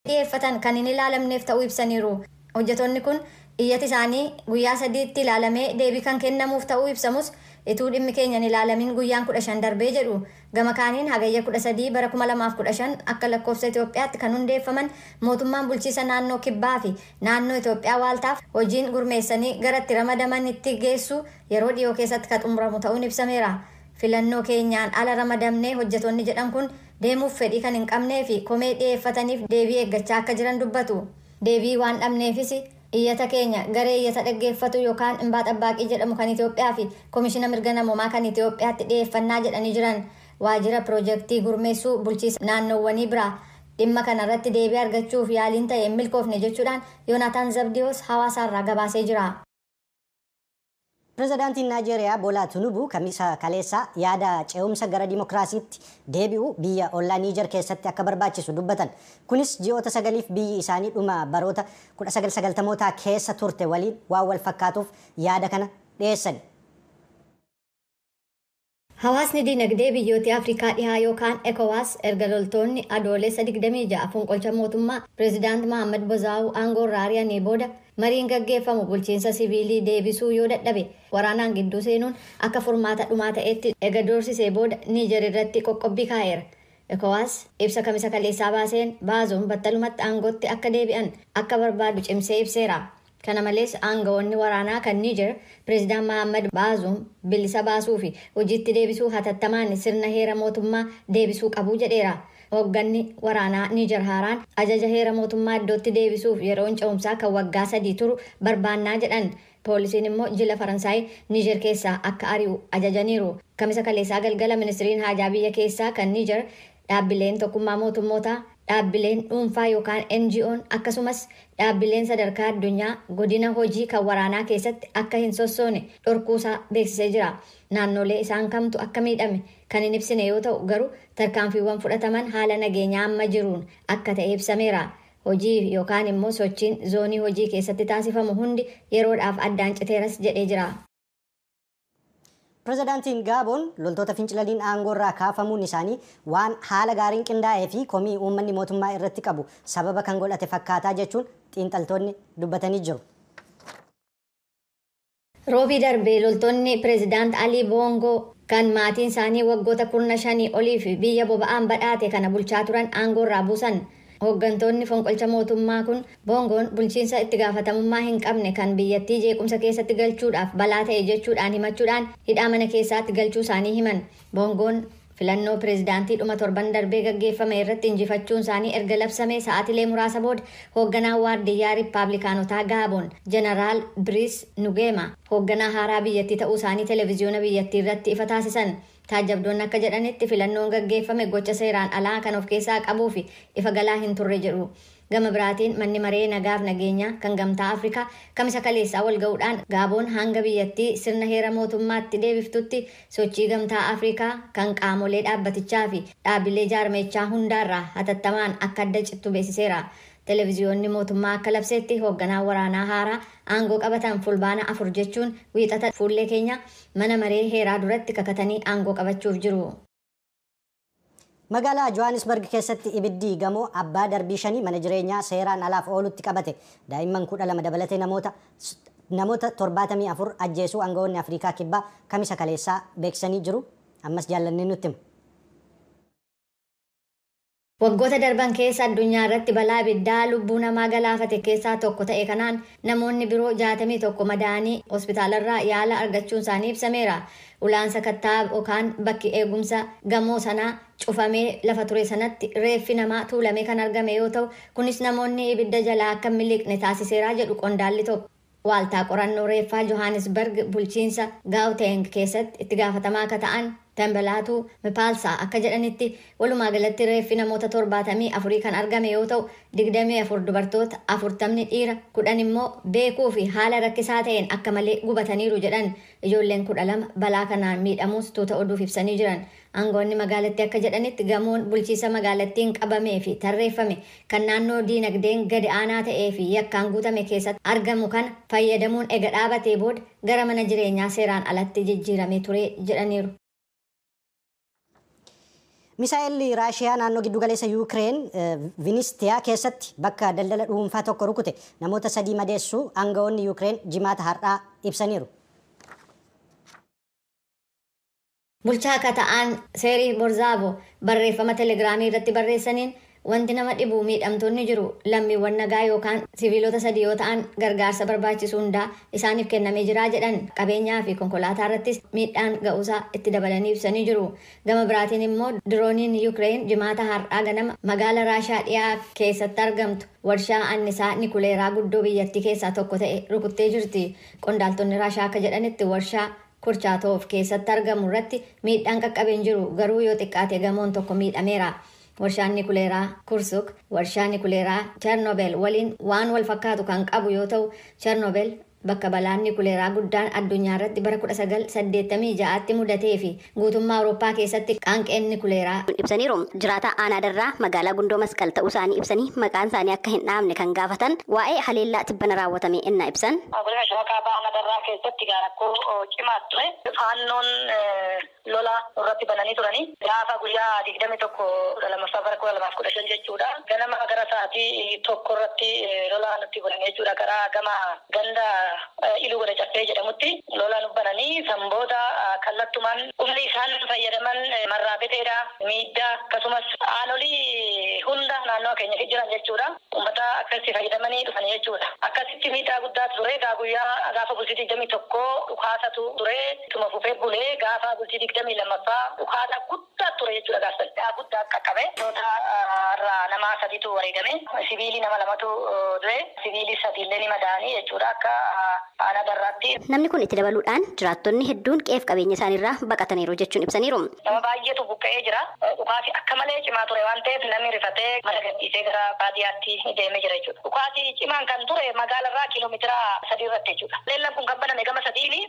dhiheeffatan kan hin ilaalamneef ta'uu ibsaniiru. Hojjetoonni kun iyyati isaanii guyyaa sadiitti ilaalamee deebii kan kennamuuf ta'uu ibsamus ituu dhimmi keenya hin ilaalamin guyyaan 15 darbee jedhu. Gama kaaniin Hagayya 13 bara 2015 akka lakkoofsa Itoophiyaatti kan hundeeffaman mootummaan bulchiisa naannoo Kibbaa fi naannoo Itoophiyaa waaltaaf hojiin gurmeessanii gara itti ramadamanitti geessuu yeroo dhiyoo keessatti ka xumuramu ta'uun ibsameera. Filannoo keenyaan ala ramadamne hojjetoonni jedhan kun deemuuf fedhii kan hin qabnee fi komee dhiyeeffataniif deebii eeggachaa akka jiran dubbatu. Deebii waan dhabneefis iyyata keenya garee iyyata dhaggeeffatu yokaan Imbaa Xabbaaqii jedhamu kan Itiyoophiyaa fi Komishina Mirga Namoomaa kan Itiyoophiyaatti dhiyeeffannaa jedhanii jiran. Waajjira Pirojektii Gurmeessuu Bulchiisa Naannoowwanii biraa dhimma kana irratti deebii argachuuf yaaliin ta'e hin milkoofne jechuudhaan Yoonaataan Zabdiyoos Hawaasaarraa gabaasee jira. Pirezidaantiin Naajeeriyaa Boolaa Tinubu Kamisa kaleessaa yaada ce'umsa gara dimokiraasiitti deebi'uu biyya ollaa Niijer keessatti akka barbaachisu dubbatan. Kunis ji'oota sagaliif biyyi isaanii dhuma baroota 1990mootaa keessa turte waliin waan wal fakkaatuuf yaada kana dhiyeessani. Hawaasni Diinagdee Biyyooti Afrikaa Dhihaa yookaan Ecowas erga loltoonni Adoolessa 26 fonqolcha mootummaa Pirezidaant Mahaammad Bozaawu aangoorraa ari'anii booda mariin gaggeeffamu bulchiinsa siviilii deebisuu yoo dadhabe waraanaan gidduu seenuun akka furmaata dhumaa ta'eetti ega doorsisee booda Niijer irratti qoqqobbii kaa'eera. Ecowas ibsa Kamisa kaleessaa baaseen Baazoom battalumatti aangootti akka deebi'an akka barbaadu cimsee ibseera. Kana malees aanga'oonni waraanaa kan Niijer Pireezidant Mahaammad Baazuum bilisa baasuu fi hojiitti deebisuu hatattamaan sirna heera mootummaa deebisuu qabu jedheera. Hoogganni waraanaa Niijer haaraan ajaja heera mootummaa iddootti deebisuuf yeroon ce'umsaa kan waggaa sadii turu barbaannaa jedhan. Poolisiin immoo jila Faransaay Niijer keessaa akka ari'u ajajaniiru. Kamisa kaleessaa galgala Ministriin Haajaa Biyya Keessaa kan Niijer Dhaabbileen Tokkummaa Mootummootaa, dhaabbileen dhuunfaa yookaan NGOn, akkasumas dhaabbileen sadarkaa addunyaa godina hojii kan waraanaa keessatti akka hin sossoone dhorkuusaa beeksisee jira. Naannoolee isaan kamtu akka miidhame kan hin ibsine yoo ta'u, garuu tarkaanfiiwwan fudhataman haala nageenyaa amma jiruun akka ta'e ibsameera. Hojii yookaan immoo sochiin zoonii hojii keessatti taasifamu hundi yeroodhaaf addaan citeeras jedhee jira. Pirezidaantiin Gaaboon loltoota fincilaniin aangoorraa kaafamuun isaanii waan haala gaariin qindaa'ee fi komii uummanni mootummaa irratti qabu sababa kan godhate fakkaataa jechuun xiinxaltoonni dubbatanii jiru. Roobii darbe loltoonni Pirezidaant Alii Boongoo kan maatiin isaanii waggoota kurna shanii oliif biyya boba'aan badhaate kana bulchaa turan aangoorraa buusan. Hooggantoonni fonqolcha mootummaa kun Boongoon bulchiinsa itti gaafatamummaa hin qabne kan biyyattii jeequmsa keessatti galchuudhaaf balaa ta'e jechuudhaan himachuudhaan hidhaa mana keessaatti galchuu isaanii himan. Boongoon filannoo pireezidaantii dhuma torban darbee gaggeeffame irratti injifachuun isaanii erga labsamee sa'aatilee muraasa booda hoogganaan waardiyyaa Rippaablikaanotaa Gaaboon Jeneraal Biriis Nugeema hoogganaa haaraa biyyattii ta'uu isaanii televiziyoona biyyattii irratti ifa taasisan. Taajjabdoonni akka jedhanitti filannoon gaggeeffame gocha seeraan alaa kan of keessaa qabuu fi ifa galaa hin turre jedhu. Gama biraatiin Manni Maree Nagaaf Nageenyaa kan Gamtaa Afrikaa Kamisa kaleessaa walga'uudhaan Gaaboon hanga biyyattii sirna heera mootummaatti deebiftutti sochii Gamtaa Afrikaa kan qaamolee dhaabbatichaa fi dhaabbilee jaarmayichaa hundaarraa hatattamaan akka adda cittu beeksiseera. Televiziyoonni mootummaa akka labseetti hoogganaan waraanaa haaraa aangoo qabatan Fulbaana 4 jechuun Wiixata fuullee keenya Mana maree heeraa duratti kakatanii aangoo qabachuuf jiru. Magaalaa Johaanisbarg keessatti ibiddi gamoo abbaa darbii shanii mana jireenyaa seeraan alaaf oolutti qabate daa'imman 12 dabalatee namoota namoota 74 ajjeesuu angawoonni Afriikaa Kibbaa Kamisa kaleessaa beeksisanii jiru. Ammas Jaallanneen nutti hima. Waggoota darban keessa addunyaa irratti balaa ibiddaa lubbuu namaa galaafate keessaa tokko ta'e kanaan namoonni biroo 61 madaa'anii hospitaalarraa yaala argachuun isaanii ibsameera. Ulaan sakattaa yokaan bakki eegumsa gamoo sanaa cufamee lafa ture sanatti reeffi namaa tuulamee kan argame yoo ta'u, kunis namoonni ibidda jalaa akka hin miliqne taasiseera jedhu qondaalli tokko. Waaltaa Qorannoo Reeffaa Johaanisbarg bulchiinsa Gaawteeng keessatti itti gaafatamaa ka ta'an Tembelaatu Mipaalsaa akka jedhanitti, walumaa galatti reeffi namoota 74 kan argame yoo ta'u, 24 dubartoota, 40'ni dhiira, 10 immoo beekuu fi haala rakkisaa ta'een akka malee gubataniiru jedhan. Ijoolleen 12 balaa kanaan miidhamuus tuuta oduuf ibsanii jiran. Aangoonni magaalattii akka jedhanitti gamoon bulchiisa magaalattiin qabamee fi tarreeffame kan naannoo diinagdeen gadi aanaa ta'ee fi yakkaan guutame keessatti argamu kana fayyadamuun ega dhaabatee booda gara mana jireenyaa seeraan alatti jijjiiramee ture jedhaniiru. Misaa'elli Raashiyaa naannoo giddu galeessa Yuukireen Vinistiyaa keessatti bakka daldala dhuunfaa tokko rukute namoota sadii madeessuu aangawoonni Yuukireen jimaata har'aa ibsaniiru. Bulchaa ka ta'aan Seerih Borzaavo barreeffama Telegiraamii irratti barreessaniin, Wanti nama dhibu miidhamtoonni jiru, lammiiwwan nagaa yookaan siviilota sadii yoo ta'an gargaarsa barbaachisu hundaa isaaniif kennamee jira jedhan. Qabeenyaa fi konkolaataa irrattis miidhaan ga'uusaa itti dabalanii ibsanii jiru. Gama biraatiin immoo dirooniin Yukireen Jimaata har'aa ganama magaala Raashiyaa dhiyaa keessatti argamtu warshaa annisaa nikuleeraa guddoo biyyattii keessaa tokko ta'e rukuttee jirti. Qondaaltonni Raashiyaa akka jedhanitti warshaa Kurchaatoo of keessatti argamu irratti miidhaan qaqqabe hin jiru, garuu yoo xiqqaate gamoon tokko miidhameera. Warshaan Nikuleeraa Kursuk warshaa nikuleeraa Chernobyl waliin waan wal fakkaatu kan qabu yoo ta'u, Chernobyl bakka balaan nikuleeraa guddaan addunyaa irratti bara 1986tti mudatee fi guutummaa Awurooppaa keessatti qaanqeen nikuleeraa. ibsaniiru. Jiraataa Aanaa Darraa magaalaa Gundoo Masqal ta'uusaanii ibsanii maqaansaanii akka hin dhahamne kan gaafatan waa'ee haleellaa tibbana raawwatamee ennaa ibsan. Godina Shawaa Kaabaa Aanaa Darraa keessatti rakkoo cimaatu ture. Faannoon lola nurratti bananii turani. Gaafa guyyaa 21 kudha 2ffaa bara 2015 jechuudha. Ganama gara sa'aatii tokkorratti lola nutti bananii jechuudha. Karaa gama ganda Iluu Goda Caffee jedhamutti lola nu bananii san booda kallattumaan humni isaan fayyadaman marraa beteedha, miiddaa akkasumas aanolii hunda naannawa keenya keessa jiran jechuudha ummata akkasitti fayyadamanii dhufani jechuudha. Akkasitti miidhaa guddaatu ture egaa guyyaa gaafa bultii 21 dhukaasatu ture ittuma fufee bule gaafa bultii 22ffaa dhukaasa guddaa. guddaa ture jechuudha gaaf sana. Miidhaa guddaa qaqqabe. Loltoota irraa nama sadiitu wareegame. Siviilii nama lamatu du'e. Siviilii sadii illee ni madaa'ani jechuudha akka Aanaa Darraatti. Namni kun itti dabaluu dhaan jiraattonni hedduun qe'ee fi qabeenya isaanii irraa baqataniiru jechuun ibsaniiru. Nama baay'eetu buqqa'ee jira. Dhukaasi akka malee cimaa ture waan ta'eef namni rifatee mana gad dhiisee gara baadiyaatti deemee jira jechuudha. Dhukaasi cimaan kan ture magaala irraa kiiloo meetira sadii irratti jechuudha. Haleellaan kun kan baname gama sadiini.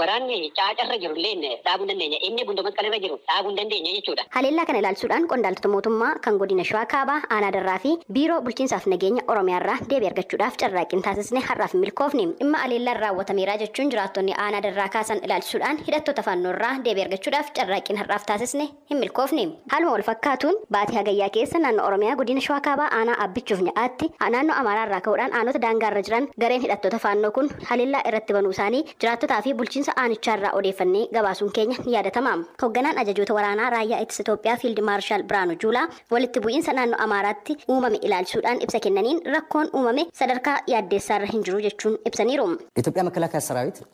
Waraanni Caaca irra jiru illeen dhaabuu hin dandeenye. Inni Gundoo Masqal irra jiru dhaabuu hin dandeenye jechuudha. Haleellaa kana ilaalchisuudhaan qondaaltota mootummaa kan Godina Shawaa Kaabaa Aanaa Darraa fi Biiroo Bulchiinsaa fi Nageenya Oromiyaa irraa deebii argachuudhaaf carraaqqiin taasisne har'aaf hin milkoofne. Dhimma haleellaan raawwatameera jechuun jiraattonni Aanaa Darraa kaasan ilaalchisuudhaan hidhattoota Faannoo irraa deebii argachuudhaaf carraaqqiin har'aaf taasisne hin milkoofne. Haaluma walfakkaatuun baatii Hagayyaa keessa naannoo Oromiyaa godina Shawaa Kaabaa aanaa Abbichuuf Nya'aatti naannoo Amaaraa irraa ka'uudhaan aanoota daangaa irra jiran gareen hidhattoota Faannoo kun haleellaa irratti banuu isaanii jiraattotaa fi bulchiinsa aanichaa irraa odeeffannee gabaasuun keenya ni yaadatama. Hogganaan Ajajoota Waraanaa Raayyaa Ittisa Itoophiyaa Fiild Maarshaal Birhaanuu Juulaa walitti bu'iinsa naannoo Amaaraatti uumame ilaalchisuudhaan ibsa kennaniin rakkoon uumame sadarkaa yaaddeessaarra hin jiru jechuun ibsaniiru. Itoophiyaa Makalaakaa Saraawit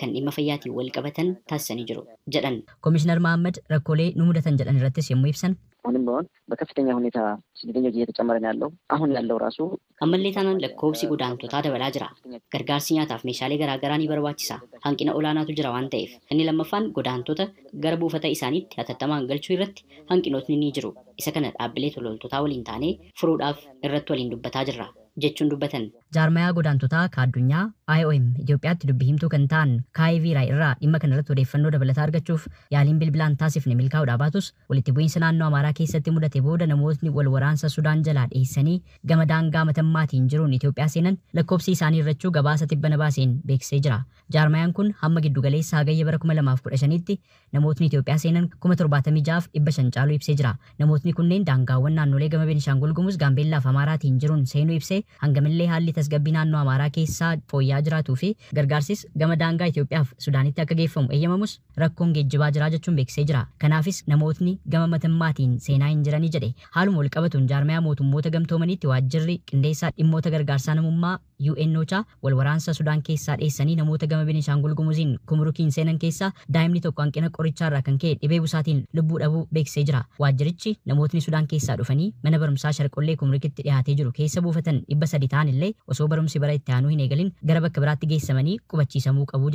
kan dhimma fayyaatiin walqabatan taasisanii jiru jedhan. Komishinar Mahaammad rakkoolee nu mudatan jedhan irrattis yommuu ibsan. Ahunim bihoon bakaffitenya huneta siddetenya ji yetecamare no yallow, ahun yallow raasu. Ammallee taanaan lakkoofsi godaantotaa dabalaa jira. Gargaarsi nyaataaf meeshaalee garaa garaa ni barbaachisa. Hanqina olaanaatu jira waan ta'eef. Inni lammaffaan godaantota gara buufata isaaniitti hatattamaan galchuu irratti hanqinootni ni jiru. Isa kana dhaabbilee tolooltotaa waliin taanee furuudhaaf irratti waliin dubbataa jirra, jechuun dubbatan. Jaarmayaa Godaantotaa ka Addunyaa, IOM, Itiyoophiyaatti dubbi himtuu kan ta'an Kaayi Viiraay irraa dhimma kana irratti odeeffannoo dabalataa argachuuf yaaliin bilbilaan taasifne milkaa'uudhaa baatus, walitti bu'iinsa naannoo Amaaraa keessatti mudate booda namootni wal waraansa Sudaan jalaa dheessanii gama daangaa Matammaatiin jiruun Itiyoophiyaa seenan lakkoobsi isaanii hirrachuu gabaasa tibbana baaseen beeksisee jira. Jaarmayaan kun hamma giddu galeessa Hagayya bara 2015tti namootni Itoophiyaa seenan 76,000f 500 caaluu ibsee jira. Namootni kunneen daangaawwan naannolee gama Benishaangul Gumuz, Gaambeellaaf Amaaraatiin jiruun seenuu ibsee, hangamillee haalli tasgabbii naannoo Amaaraa keessaa fooyya'aa jiraatuufi gargaarsis gama daangaa Itoophiyaaf Sudaanitti akka geeffamu eyyamamus rakkoon geejjibaa jiraa jechuun beeksisee jira. Kanaafis namootni gama matammaatiin seenaa hin jiranii jedhe. Haaluma walqabatuun jaarmayaa mootummoota gamtoomaniitti waajjirri qindeessaa dhimmoota gargaarsaa namummaa, UNOCHA, Wal waraansa Sudaan keessaa dheessanii namoota gama Beneshaangul Gumuziin Kumurukiin seenan keessaa daa'imni tokko hanqina qorichaa irraa kan ka'e dhibee busaatiin lubbuu dhabuu beeksisee jira. Waajjirichi namootni Sudaan keessaa dhufanii mana barumsaa Sharqollee Kumurukitti dhihaatee jiru keessa buufatan 300 ta'an illee osoo barumsi bara itti aanuu hin eegalin gara bakka biraatti geessamanii qubachiisamuu qabu jedhe.